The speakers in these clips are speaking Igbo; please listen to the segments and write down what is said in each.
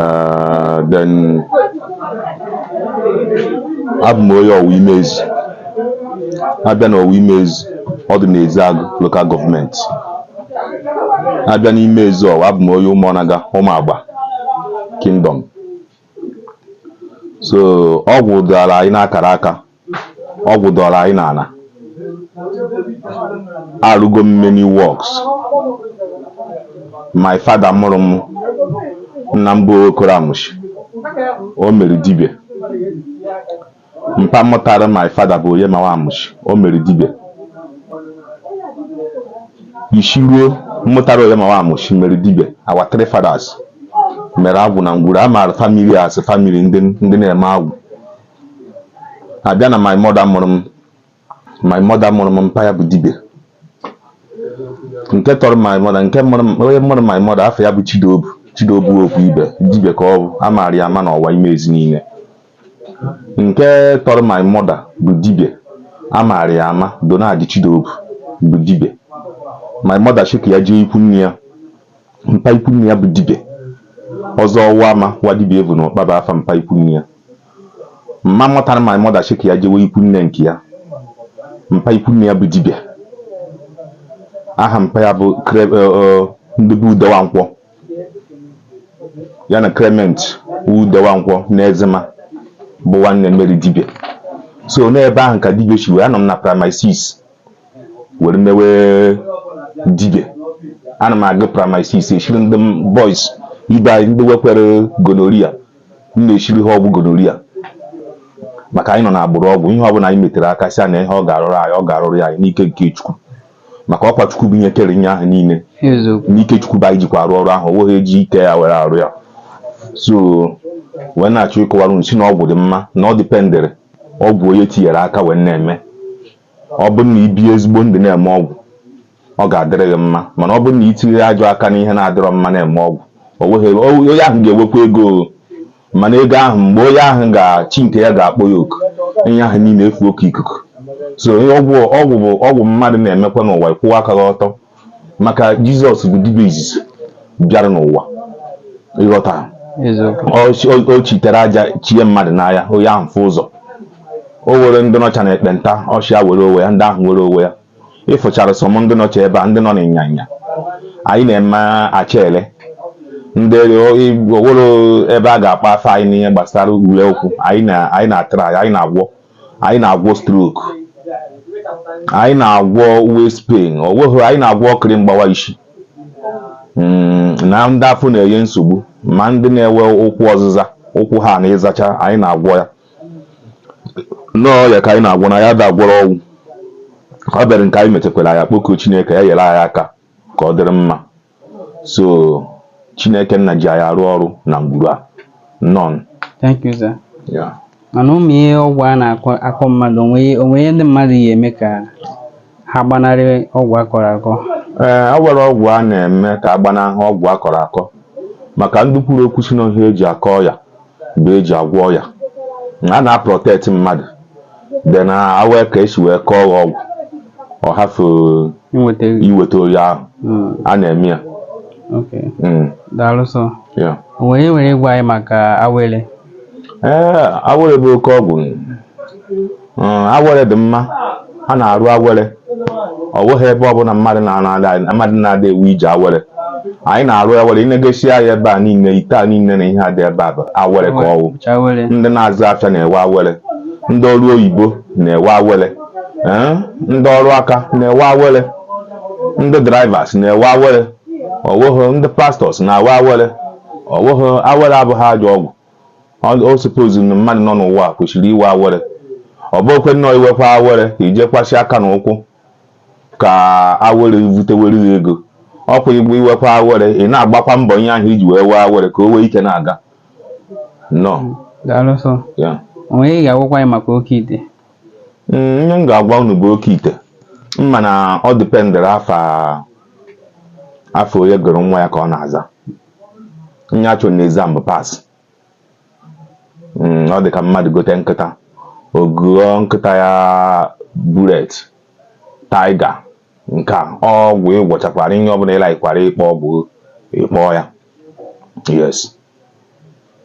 Ah, then abụ m onye Ọwa Imezi a bịa na Ọwa Imezi ọ dị n'Ezeagụ local government a bịa n'Imezi Ọwa abụ m onye Ụmụọnaga Ụmụagba kingdom so ọgwụ dara anyị n'akara aka ọgwụ dọrọ anyị n'ala arụgo m many works my father mụrụ m nna m bụ Okoro Amushi o mere dibia mpa mụtara my father bụ Oyemawa Amushi o mere dibia isi ruo mmụtara Oyemawa Amushi mere dibia our three fathers mere agwụ na ngwuru a maara family as family ndị na-eme agwụ a bịa na my mother mụrụ m my mother mụrụ m mpa ya bụ dibia nke tọrọ my mother nke mụrụ m- onye mụrụ my mother afa ya bụ Chidobu Chidobu Okwuibe dibia ka ọ bụ a maara ya ama n'Ọwa Imezi niile nke tọrọ my mother bụ dibia a maara ya ama Donald Chidobu bụ dibia my mother sị ka ya jee ikwu nne ya mpa ikwu nne ya bụ dibịa ọzọ ọwa ama wa dibịa evu na ọkpaba afa mpa ikwu nne ya mama mụtara my mother sị ka ya jewe ikwu nne nke ya mpa ikwu nne ya bụ dibịa aha mpa ya bụ e, e, ndị be Ude Nwankwọ ya na Clement Ude Nwankwọ na Ezema bụ nwanne mere dibịa so n'ebe ahụ ka dibịa si wee anọ m na primary 6 were mewe dibịa ana m agụ primary six eshiri ndị boys ibe anyị ndị nwekwere gonorrhea m na-eshiri ha ọgwụ gonorrhea maka anyị nọ na agbụrụ ọgwụ ihe ọbụla anyị metere aka sị na ihe ọ ga-arụrụ anyị ọ ga-arụrụ anyị n'ike nke chukwu maka ọkwa chukwu bụ ihe kere ihe ahụ niile n'ike chukwu bụ anyị jikwa arụ ọrụ ahụ o nweghị eji ike ya were arụ ya so wee na-achọ ịkọwara sị na ọgwụ dị mma na ọ dịpendere ọgwụ onye tinyere aka wee na-eme ọ bụrụ na i bi ezigbo ndụ na-eme ọgwụ ọ ga-adịrị gị mma mana ọ bụrụ na i tinye ajọ aka n'ihe na-adịrọ mma na-eme ọgwụ o nweghị o- onye ahụ ga-enwekwa ego o. mana ego ahụ mgbe onye ahụ ga-chi nke ya ga-akpọ ya oku ihe ahụ niile efuo ka ikuku so onye ọgwụ ọgwụ bụ ọgwụ mmadụ na-emekwa n'ụwa ịkwụwa aka gị ọtọ maka jizọs bụ dibịa izizi bịara n'ụwa ịghọta o chitere aja chie mmadụ n'anya onye ahụ fụ ụzọ o nwere ndị nọcha na ekpenta ọ sị ha nwere onwe ya ndị ahụ nwere onwe ya ị fụchara some ndị nọcha ebe a ndị nọ n'ịnyanya anyị na-eme achele ndị o nwere ebe a ga-akpa afọ anyị n'ihe gbasara ule okwu anyị na-atara anyị na-agwọ anyị na-agwọ stroke anyị na-agwọ waist pain ọ nweghị anyị na-agwọ okiri mgbawa isi mm, na ndị afọ na-enye nsogbu ma ndị na-enwe ụkwụ ọzịza ụkwụ ha na ịzacha anyị na-agwọ ya nnọọ ya ka anyị na-agwọ na ya ndị a gwọrọ ọgwụ ọ bịara nke anyị mechakwara ya kpọkuo Chineke ya nyere anyị aka ka ọ dịrị mma so chineke nna ji anyị arụ ọrụ na ngwuru a nọ thank you sir ya mana ụmụ ihe ọgwụ a na-akọ akọ mmadụ o nwe ihe- o nwe ihe ndị mmadụ ya-eme ka ha gbanarị ọgwụ a kọrọ akọ ee o nwere ọgwụ a na-eme ka a gbanahụ ọgwụ a kọrọ akọ maka ndị kwuru okwu sị na ihe e ji akọ ọya bụ e ji agwọ ọya a na-aprotect mmadụ then e nwee ka e si wee kọọ gị ọgwụ ọ hafụ inweta gị iweta onye ahụ Mm, a na-eme ya okay. Mm, daalụ sọ yeah. o nwere ihe i nwere ịgwa anyị maka awele ee awere bụ oke ọgwụ Mm, awere dị mma a na-arụ awere ọ bụghị ebe ọbụla mmadụ na-ana mmadụ na-ada ewu ije awere anyị na-arụ awere ị negasịa anya ebe a niile ite a niile na ihe a dị ebe a bụ awere ka ọwụ Bụcha awere. ndị na-azụ afịa na-ewe awere ndị ọrụ oyibo na-ewe awere ee, ndị ọrụ aka na-ewe awere ndị drivers na-ewe awere ọwụghị ndị pastors na-awe awere ọwụghị awere abụghị ajọ ọgwụ o suppose na mmadụ nọ n'ụwa kwesịrị iwe awere ọ bụkwe nnọọ i wekwa awere i jekwasị aka n'ukwu ka awere butewere gị ego ọkwa i wekwa awere ị na-agbakwa mbọ ihe ahụ i ji wee wee awere ka o wee ike na-aga nọ o nwe ihe ị ga-agwakwa anyị maka oke ite mm, ihe m ga-agwa unu bụ oke ite mana ọ dependịrị afa onye gụrụ nwa ya ka ọ na-aza ihe a chọ na exam bụ pass hmm, ọ dị ka mmadụ gote nkịta ọ gụọ nkịta ya Bullet Tiger nke a ọgwụ ị gwọchakwara ihe ọbụla ị likekwara ịkpọ ọgwụ ị kpọọ ya yes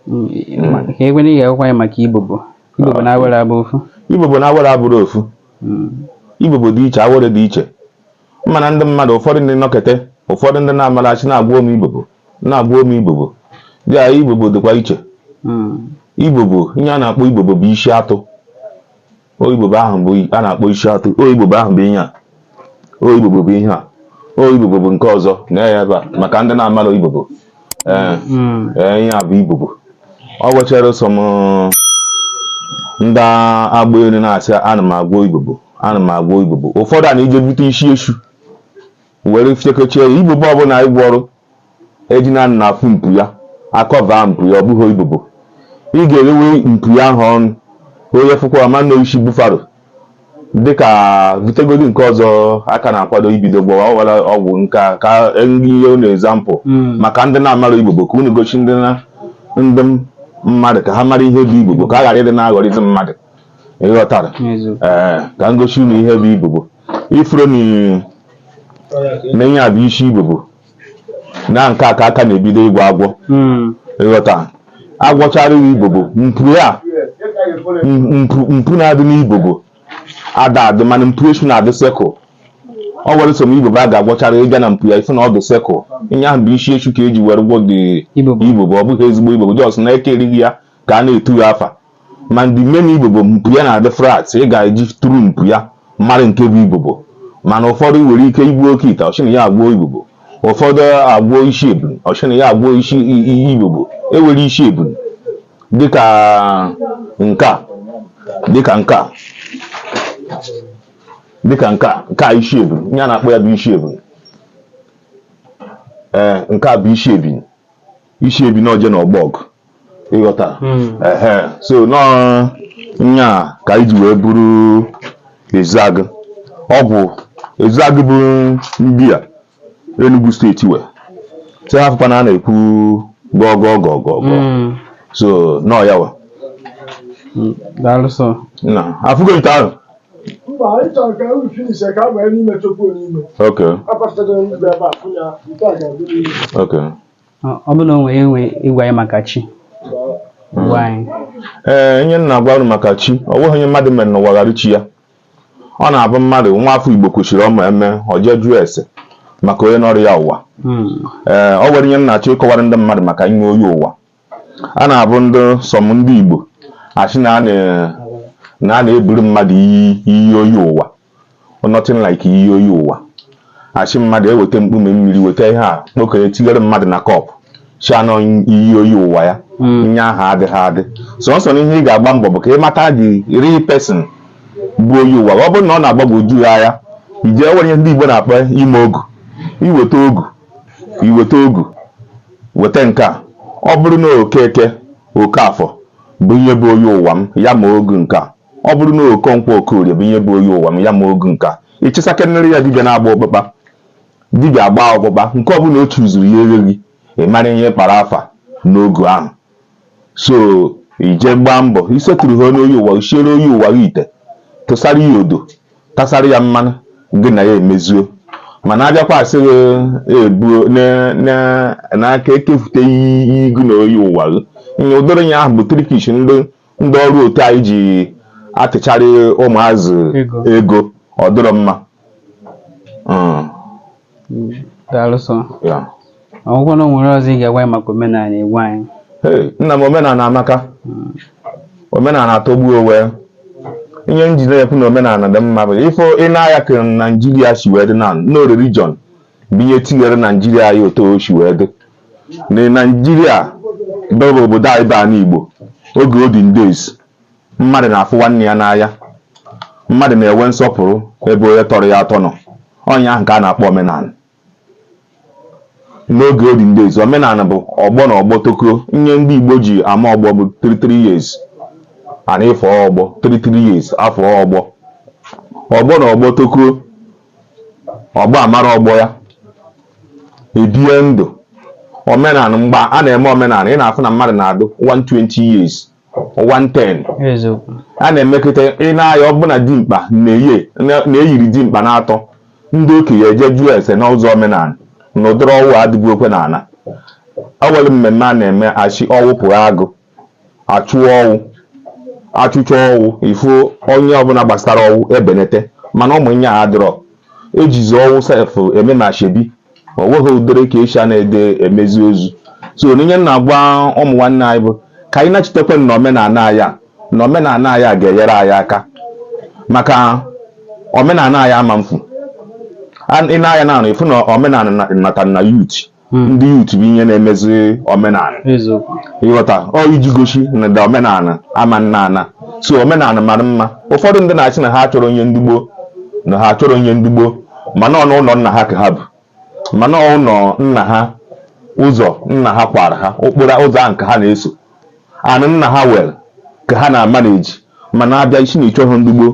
hmm, ihe egwe na ihe akwụkwọ ya maka ibobo Ibobo na awere abụ ofu. Ibobo na awere abụrụ ofu. Hmm. Ibobo dị iche, awere dị iche. mana ndị mmadụ ụfọdụ ndị nọkete ụfọdụ ndị na-amara sị na agwọọ m ibobo na agwọọ m ibobo dị a ibobo dịkwa iche hmm. ibobo ihe a na-akpọ ibobo bụ isi atụ o ibobo ahụ bụ a na-akpọ isi atụ o ibobo ahụ bụ ihe a o ibobo bụ ihe a o ibobo bụ nke ọzọ na ya ebe a maka ndị na-amara ibobo ee mm. ihe a bụ ibobo o nwechara some ndị agba elu na-asị ana m agwọ ibobo ana m agwọ ibobo ụfọdụ na-eje bute isi esu were fiekochie ya ibobo ọbụla ị gwọrọ ejina na afụ mpu ya akọva mpu ya ọ bụghị ibobo ị ga-elewe mpu ya ahụ anya ị fụkwa ma na isi buffalo dịka butegodi nke ọzọ a ka na-akwado ibido gbawa ọwara ọgwụ nke a ka m nye unu example hmm. maka ndị na-amara ibobo ka unu gosi ndị ndị mmadụ ka ha mara ihe bụ ibobo ka a ghara ịdị na-aghọrịzi mmadụ ịghọtara ee ka m gosi unu ihe bụ ibobo ị fụrụ na ihe a bụ isi ibobo na nke a ka a ka na-ebido ịgwọ agwọ Mm. ịghọta a gwọchara ya ibobo mpu ya m- mpu mpu na-adị n'ibobo ada adị mana mpu esu na-adị circle o nwere some ibobo a ga-agwọchara ị gaa na mpu ya ị fụ na ọ dị circle ihe ahụ bụ isi esu ka e ji were gwọọ ụdị Ibobo. ibobo ọ bụghị ezigbo ibobo just na eke erighị ya ka a na-etu ya afa ma ndị main ibobo mpu ya na-adị flat ị ga-eji through mpu ya mara nke bụ ibobo mana ụfọdụ nwere ike igbu oke ite ọ sị na ya agwọọ ibobo ụfọdụ agwọọ isi ebunu ọ sị na ya agwọọ ibobo e were isi ebunu dịka nke a dịka nke a dịka nke a nke a isi ebunu ihe a na-akpọ ya bụ isi ebunu ee eh, nke a bụ isi ebinu isi ebinu ọ je n'ọgbọ ọgụ ịghọta ehe so na ọ ya ka e ji wee bụrụ Ezeagu ọ bụ Ezeagu bụ ndị a Enugu State wee sị ha fụkwa na a na-ekwu gọgọ gọgọ gọ so nọọ ya wa daalụ sir na afụgo ite ahụ Mba, anyị chọrọ ka unu finish ka a banye n'ime chọkwuo n'ime. okay Akpafetara m ebe a, fụ ya, nke a ga-adị n'ime. okay Ọ- ọ bụrụ na i nwere ike ịgwa anyị maka chi gwa anyị ee ihe m na-agwa unu maka chi o nweghị ihe mmadụ mere n'ụwa ghara chi ya ọ na-abụ mmadụ nwa afọ igbo kwesịrị ọma eme o jee jụọ ese maka onye nọrọ ya ụwa Mm, ee o nwere ihe m na-achọ ịkọwara ndị mmadụ maka ihe oyi ụwa a na-abụ ndị some ndị igbo asị na a na- na a na-eburu mmadụ iyi iyi oyi ụwa nothing like iyi oyi ụwa a sị mmadụ eweta mkpume mmiri weta ihe a kpokọnye tinyere mmadụ na cup sị na ọ iyi oyi ụwa ya ihe ahụ adịghị adị sọsọ na ihe ị ga-agba mbọ bụ ka ị mata the real person bụ oyi ụwa ọ bụrụ na ọ na-agbagwoju ya anya e nwere ihe ndị Igbo na-akpọ ime ogu iweta ogu iweta ogu weta nke a ọ bụrụ na Okeke Okafọ bụ ihe bụ oyi ụwa m ya ma ogu nke a Ọ bụrụ na Okonkwo Okorie bụ ihe bụ oyi ụwa ya ma ogu nka, ịchịsakenere ya dibịa na-agba ọkpụkpa. Dibịa gbaa ọkpụkpa, nke ọbụla o chuzuru ya egheghị, ị mara ihe kpara afa n'ogu ahụ. So ije gbaa mbọ iseturu ha onye oyi ụwa, siere oyi ụwa gị ite, tụsara ya odo, tasara ya mmanụ, gị na ya emezuo. Mana a bịakwa sị gị ebuo n'aka ekefute iyi gị na oyi ụwa gị. Ihe ụdịrị ya ahụ bụ trickish ndị ndị ọrụ otu anyị ji atịcharị ụmụazụ ego ọ dịrọ mma. Hmm, daalụ sọ ọ gwụgwo na o nwere ọzọ ị ga-agwa anyị maka omenala Igbo anyị nna m omenala amaka hmm. omenala atọgbu onwe ihe m ji na-ekwu na omenala dị mma bụ ị fụ ị na-aya ka naijiria si wee dị na ọ religion bụ ihe tinyere naijiria otu o si wee dị na Naijiria bụ obodo anyị bụ ala Igbo oge olden days mmadụ na-afụ nwanne ya n'anya mmadụ na-enwe nsọpụrụ ebe onye tọrọ ya atọ nọ ọ nya ahụ ka a na-akpọ omenala n'oge olden days omenala bụ ọgbọ na ọgbọ tokuo ihe ndị Igbo ji ama ọgbọ bụ 33 years and ị fụ ọgbọ 33 years afọ ọgbọ ọgbọ na ọgbọ tokuo ọgbọ amara ọgbọ ya ebie ndụ omenala mgbe a na-eme omenala ị na-afụ na mmadụ na-adụ 120 years 110 a na-emeketa ị na-aya ọbụna dimkpa na-eyiri dimkpa na-atọrọ ndị okenye e jee jụọ ese n'ụzọ omenala na ụdịrị ọnwụ adịbụ okwe n'ala o nwere mmemme a na-eme achụ ọnwụ pụa agụ achụ ọnwụ achụcha ọnwụ ị fụ onye ọbụla gbasara ọnwụ ebenete mana ụmụ nya a dịrọ ejizi ọnwụ sef eme na ashebi o nweghị ụdịrị ka esi a na-ede emezi ozu so na ihe m na-agwa ụmụ nwanne anyị bụ ka anyị nachitekwe n'omenala anyị a na omenala anyị a ga-enyere anyị aka maka omenala anyị a ma m fụ n'anya na ịfụ na omenala nata na youth Hmm. ndị youth bụ ihe na-emezi omenala ịghọta ọ iji gosi na ụda omenala amana ana so omenala mara mma ụfọdụ ndị na-achị na ha achọrọ ihe ndị gboo na ha achọrọ ihe ndị gboo mana ọ n'ụlọ nna ha ka ha bụ mana ụlọ nna ha ụzọ nna ha kwara ha okporo ụzọ ahụ ka ha na-eso anị nna ha nwere ka ha na-amanage mana ị bịa ịsị na ị chọghị ndị gboo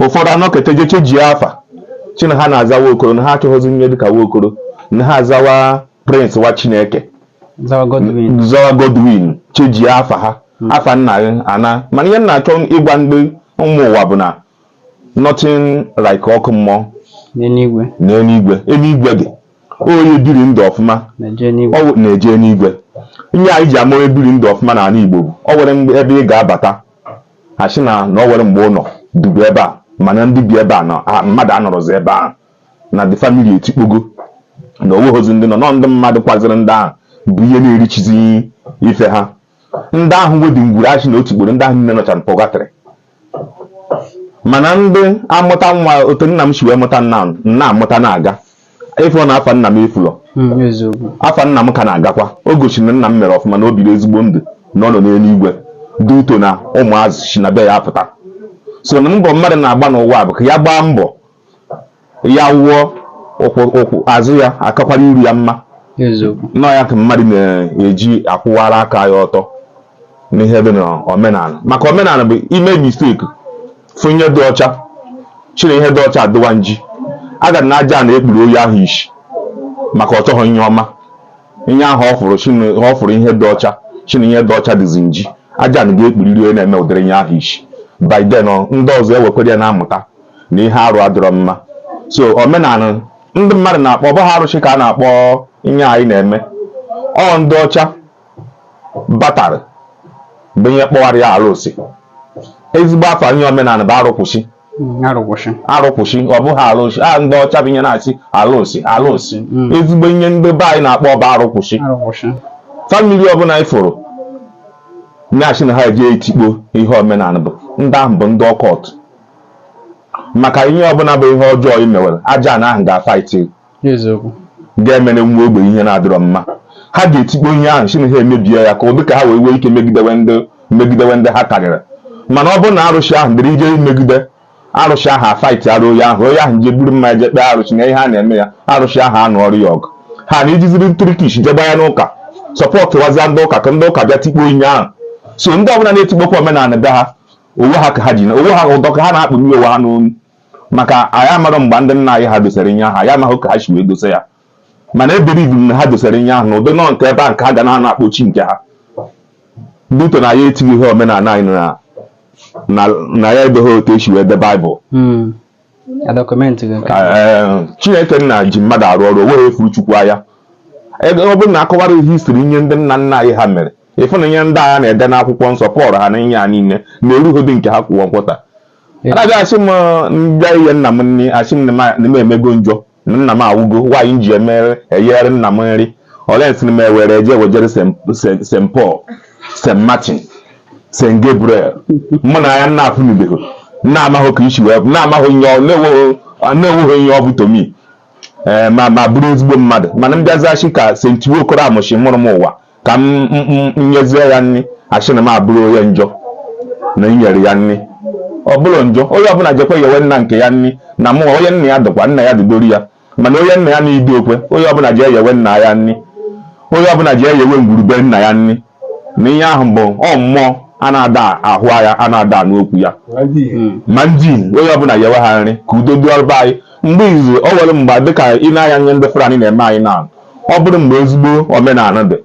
ụfọdụ anọketa jee chenjie afa chị na ha na-aza nwa Okoro na ha achọghịzi ihe dịka nwa Okoro na ha azawa Prince nwa Chineke zawa Godwin chenjie afa ha afa nna gị ana mana ihe m na-achọ ịgwa ndị ụmụ ụwa bụ na nothing like ọkụ mmụọ na eluigwe eluigwe dị onye biri ndụ ọfụma na-eje enuigwe ihe anyị ji ama onye biri ndụ ọfụma na ala Igbo bụ ọ nwere ebe ị ga-abata a sị na na ọ nwere mgbe ụnọ dịbu ebe a mana ndị bi ebe a na mmadụ anọrọzi ebe ahụ na the family etikpogo na o nweghịzi ndị nọ nọ ndị mmadụ kwaziri ndị ahụ bụ ihe na-erichizi ife ha ndị ahụ nwe ụdị ngwuru a sị na o tikporo ndị ahụ niile nọcha na purgatory mana ndị amụta nwa otu nna m si wee mụta m m na-amụta na-aga ị fụ na afa nna m efulọ Mm, eziokwu afa nna m ka na-agakwa o gosiri na nna m mere ọfụma na o biri ezigbo ndụ na ọ nọ n'enuigwe due to na ụmụazị si na be ya apụta so na mbọ mmadụ na-agba n'ụwa bụ ka ya gbaa mbọ ya nwụọ ụkwụ ụkwụ azụ ya akakwara iru ya mma eziokwu na ọ ya ka mmadụ na-eji akwụwara aka ya ọtọ n'ihe dị n'omenala maka omenala bụ i mee mistake fụ ihe dị ọcha sị na ihe dị ọcha dịwa nji aga na Ajana ekpuru onye ahụ isi maka ọ chọghị ihe ọma ihe ahụ ọ fụrụ sị na- ọ fụrụ ihe dị ọcha sị na ihe dị ọcha dịzi nji Ajana ga-ekpuriri onye na-eme ụdịrị ihe ahụ isi by then ọ, ndị ọzọ ewekwere ya na-amụta na ihe arụ adịrọ mma so omenala ndị mmadụ na-akpọ ọ bụghị arụsị ka a na-akpọ ihe anyị na-eme ọ ndị ọcha batara bụ ihe kpọwara ya arụsị ezigbo afa ihe omenala bụ arụkwụsị Mm, arụkwụsị arụkwụsị ọ bụghị arụsị a ndị ọcha bụ ihe na-asị arụsị arụsị Mm. ezigbo ihe ndị be anyị na-akpọ bụ arụkwụsị arụkwụsị family ọbụla ị fụrụ sị na ha eje etikpo ihe omenala bụ ndị ahụ bụ ndị occult maka ihe ọbụla bụ ihe ọjọọ i mewere Ajana ahụ ga-afight ga-emere nwa ogbenye ihe na-adịrọ mma ha ga-etikpo ihe ahụ sị na ha emebie ya ka ụdị ka ha wee nwee ike megidewe ndị megidewe ndị ha karịrị mana ọ bụrụ na arụsị ahụ dịrị ị je imegide arụsị ahụ afightara onye ahụ onye ahụ je buru mmanya je kpee arụsị na ihe a na-eme ya arụsị ahụ anụọrọ ya ọgụ ha na ejiziri trickish jegba ya n'ụka supportuwazia ndị ụka ka ndị ụka bịa tikpo ihe ahụ so ndị ọbụla na-etikpokwa omenala be ha onwe ha ka ha ji onwe ha ụdọ ka ha na-akpụnye onwe ha n'onu maka anyị amaghị mgbe ndị nna anyị ha dosara ihe ahụ anyị amaghị ka ha si wee dosa ya mana I believe na ha dosara ihe ahụ na ndị nọ nke ebe a nke ha ga na-ana akpọ chi nke ha due to na anyị etighị ihe omenala anyị na na anyị edeghị otu e si wee de Bible hmm. chineke nna ji mmadụ arụ ọrụ o nwerọ onye fụrụ chukwu anya ọ bụrụ na a kọwara history ihe ndị nna nna anyị ha mere ị fụ na ihe ndị a na-ede n'akwụkwọ nsọ Paul ha na ihe ha niile na erughị ụdị nke ha kwụwa nkwụta anaghị asị m ndị ihe nna m nne asị m na m emego njọ Nna m awụgo, why m ji emere eyere nna m nri? Olee nsị m ewere eje wejere St. Paul, St. Martin, St. Gabriel? Mụ na ya na-afụnubeghị, na amaghị ka isi wee nna amaghị nye na-enweghị ihe ọ bụ to me ee ma ma bụrụ ezigbo mmadụ mana m bịazia sị ka St. Okoro Amụchi mụrụ m ụwa ka m nyezie ya nri asị na m abụrụ onye njọ na inyere ya nri ọ bụrụ njọ onye ọbụla jekwa yewe nna nke ya nri na mụwa onye nna ya dịkwa nna ya dịdoro ya mana onye nna ya na ido okwe onye ọbụla jee yewe nna ya nri onye ọbụla jee yewe ngwuru be nna ya nri na ihe ahụ bụ ọ mmụọ a na-ada ahụ ya a na-ada anụ okwu ya ma ndị onye ọbụla yewe ha nri ka udo dịrị anyị mgbe izu ọ nwere mgbe dịka ị na-anụ ihe ndị Fulani na-eme anyị na ọ bụrụ mgbe ezigbo omenala dị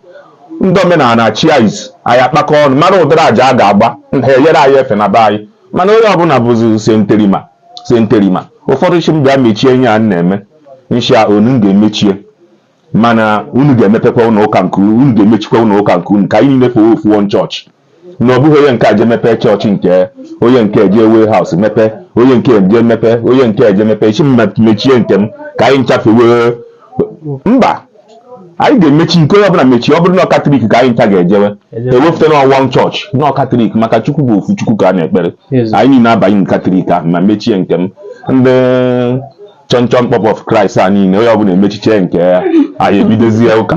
ndị omenala chịa isi anyị akpakọọ ọnụ mara ụdịrị aja a ga-agba ha eyere anyị efe na be anyị mana onye ọbụla bụzi senterima senterima ụfọdụ sị m bịa mechie ihe a na-eme m sị ha na m ga-emechie mana unu ga-emepekwa ụlọ ụka nke unu ga-emechikwa ụlọ ụka nke unu ka anyị niile fewe ofu one church na ọ bụghị onye nke a je mepee church nke onye nke je warehouse mepee onye nke je mepee onye nke je mepee sị m mechie nke m ka anyị ncha fewe mba anyị ga-emechi nke onye ọbụla mechie ọ bụrụ na Catholic ka anyị ncha ga-ejewe ewepụta na one church na Catholic maka chukwu bụ ofu chukwu ka a na-ekpere anyị niile abanye Catholic ahụ m emechie nke m ndị chọnchọn kpọp of Christ a niile onye ọbụla emechiche nke ya anyị ebidozie ụka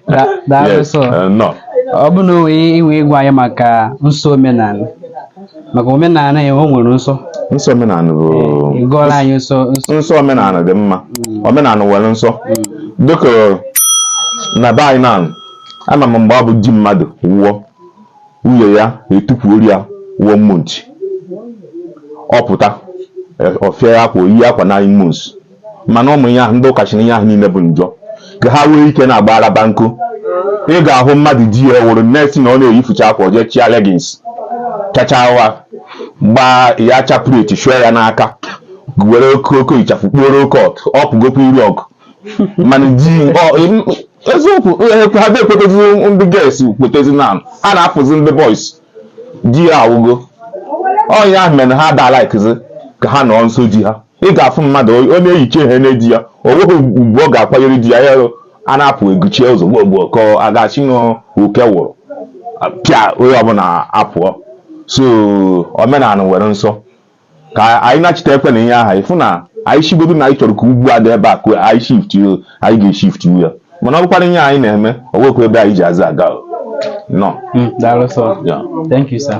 Da- daalụ Yes, so eh, nọ ọ bụ na i nwee ike ịgwa anyị maka nsọ omenala maka omenala ya o nwere nsọ nsọ omenala bụ ị gụọrọ anyị nsọ nsọ nsọ omenala dị mma omenala nwere nsọ dịka na be anyị na ama m mgbe ọ bụ di mmadụ wụọ Nwunye ya etukwuoro ya one month. Ọ pụta, ọ fịa ya akwa, o yie akwa nine months. Mana ụmụ ya, ndị ụka sị na ihe ahụ niile bụ njọ. Ka ha nwee ike na-agba araba nkụ. Ị ga-ahụ mmadụ di ya nwụrụ, next thing ọ na-eyifucha akwa, o jee chịa leggings, chachaa ụgha, gbaa ya chaplet, shụọ ya n'aka, were oke oke ịchafụ kpuoro oke ọtụ, ọ pụgokwa iru ọgụ. mana di ọ- em, eziokwu eh, ha dị ekwetezi ndị girls kwetezi na ha na-apụzi ndị boys di ya awụgo ọ ya mere na ha da likezi ka ha nọọ nso di ha ị ga-afụ mmadụ ọ ọ na-eyicha ihe na di ya o nweghị ugwu ọ ga-akwanyere di ya ya a na-apụ eguchie ụzọ gboo gboo ka a ga-asị na oke wụrụ pịa onye ọbụla apụọ so omenala nwere nsọ ka anyị nachitekwa na ihe ahụ ị fụ na anyị shigodo na anyị chọrọ ka ugwu a dị ebe a ka anyị shift anyị ga-eshift ya mana ọ bụkwara ihe anyị na-eme ọ nwekwa ebe anyị ji azụ aga nọ hmm, daalụ sir thank you sir